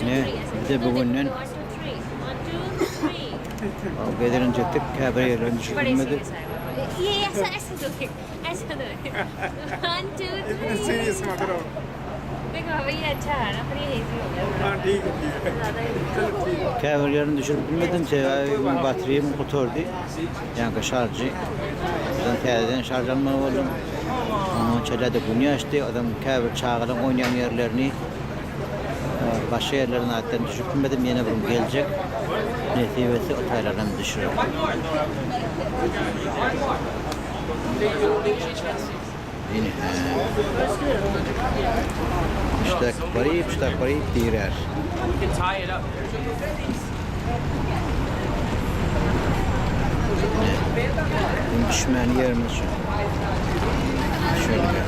Ine, bize bu günden gezelenç etdik, käbir ýerlerini düşürmedik. Käbir ýerini düşürip bilmedim, sebäbi meniň batrýam gutardy. Ýaňky şarjy dan täzeden şarj almaly boldum. Oňa çenlerde gün ýaşdy. Adam käbir çagalaň oýnaýan ýerlerini başga ýerlerini atdan düşürip bilmedim. Ýene bir gün geljek. Nesip etse utaýlarynam düşürerin. Ine, hä. Puştak baryp, puştak baryp girär. Ine, düşmän ýerimiz şu. Şeýle.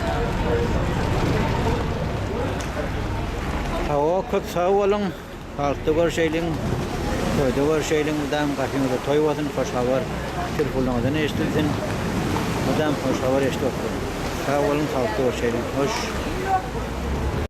Hawa, köp sag boluň. Parkda görüşeýliň, toýda görüşeýliň mydam gapyňyzda toý bolsun hoş habar telfonyňyzdan eşdilsin mydam hoş habar eşdip oturyň sag boluň parkda görüşeýliň hoş.